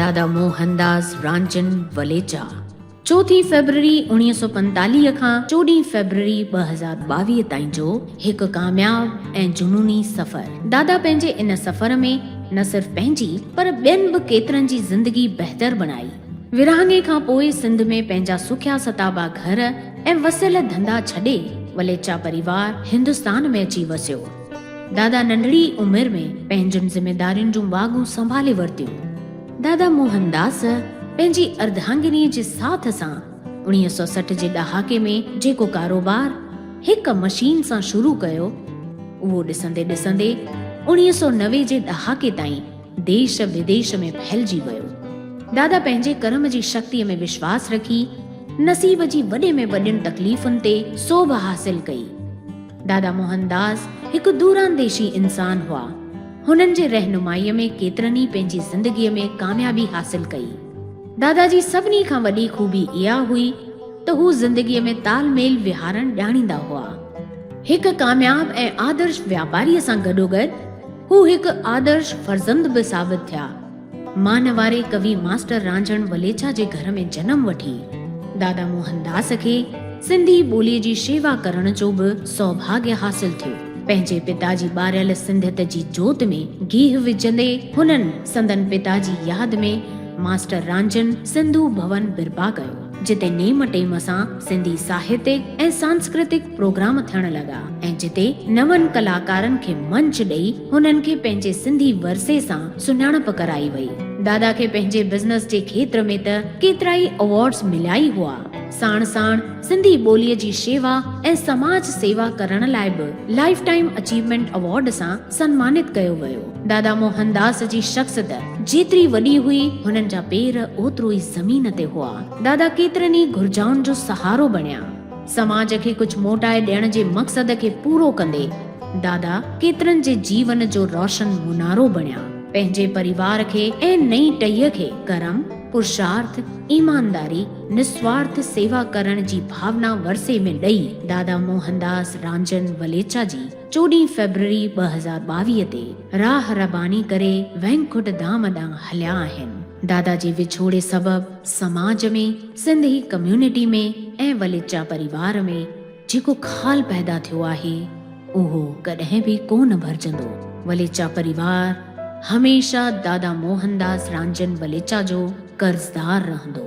دادا موهن داس رانجن وليچا چوٿين فيبروري اوڻيهه سؤ پنجيتاليهه کان چوڏهين فيبروري ٻه هزار ٻاويهه تائين جو هڪ ڪامياب ۽ جنوني سفر دادا پنهنجي ان سفر ۾ نه صرف پنهنجي پر ٻين به ڪيترن جي زندگي بهتر بڻائي. ورهاڱي کان پوء سنڌ ۾ پنهنجا سکيا ستابا گهر ۽ وسيل ڌنڌا ڇڏي وليچا پريوار هندستان ۾ اچي وسيو. دادا ننڍڙي ئي عمر ۾ پنهنجين ذميدارين جون واڳون سنڀالي ورتيون. دادا موهنداس پنهنجي ارڌاڱني جي ساٿ سان اڻيهه سؤ سٺ جي ڏهاڪي ۾ جيڪو ڪاروبار هڪ مشين سان شروع ڪيو اهو ڏسندي ڏسندي اڻيهه سؤ نوي جي ڏهاڪي تائين ديش بديش ۾ ڦهلجي ويو. دادا پنهنجي ڪرم جي شڪتيء ۾ وشواس رکي، نصيب جي وڏي ۾ وڏين تڪليفن تي سوڀ حاصل ڪئي. دادا موهن داس هڪ دورانديشي انسان هئا. هنن جي رهنمائيء ۾ ڪيترن ئي پنهنجي زندگيء ۾ ڪاميابي حاصل ڪئي. دادا جي سڀني کان وڏي خوبي اها هئي ته هو زندگيء ۾ تال ميل ويهارڻ ڄاڻيندا هئا. هڪ ڪامياب ۽ آدرش واپاريء سان گڏوگڏ، هو هڪ آدرش فرزند به ثابت ٿيا. مان واري ڪوي ماسٽر رانجهڻ وليچا جي گهر ۾ جنم وٺي، دادا موهن داس کي سنڌي ٻوليء جي شيوا ڪرڻ جو به سوڀاڳيه حاصل ٿيو. پنهنجي پتا جي ٻاريل سنڌيت جي جوت ۾ گيهه وجهندي هنن سندن پتا جي ياد ۾ ماسٽر رانجهن سنڌو ڀون برپا ڪيو. جتي نيم ٽيم سان سنڌي ساهتڪ ۽ سانسڪرتڪ پروگرام ٿيڻ لڳا ۽ جتي نون ڪلاڪارن کي منچ ڏئي هنن کي پنهنجي سنڌي ورثي سان سڃاڻپ ڪرائي وئي. دادا کي پنهنجي بزنس جي کيتر ۾ ته ڪيترائي ايوارڊز مليا ئي هئا، ساڻ ساڻ سنڌي ٻوليء جي شيوا ۽ سماج سيوا ڪرڻ لاء به لائيف ٽائيم اچيومينٽ ايوارڊ سان سنمانت ڪيو ويو. دادا موهن داس جي شخصت جيتري وڏي هئي، هنن جا پير اوترو ئي زمين تي هئا. دادا ڪيترن ئي گهرجائن جو سهارو بڻيا. سماج کي ڪجهه موٽائي ڏيڻ جي مقصد کي پورو ڪندي دادا ڪيترن جي جيون جو روشن منارو بڻيا. پنهنجي پريوار کي ۽ نئين ٽهيء کي ڪرم، پرشارٿ، ايمانداري، نسوارٿ سيوا ڪرڻ جي ڀاونا ورثي ۾ ڏئي دادا موهن داس رانجن وليچا جي. چوڏهن فيبروري ٻه هزار ٻاويهه تي راهه رباني ڪري وينڪٽ ڌام ڏانهن هليا آهن. دادا جي وڇوڙي سبب سماج ۾ سنڌي ڪميونٽي ۾ ۽ وليچا پريوار ۾ جيڪو خال پيدا ٿيو آهي اهو ڪڏهن به ڪو نه ڀرجندو. وليچا پريوار هميشه دادا موهن داس رانجن وليچا جو قرضدار رهندو.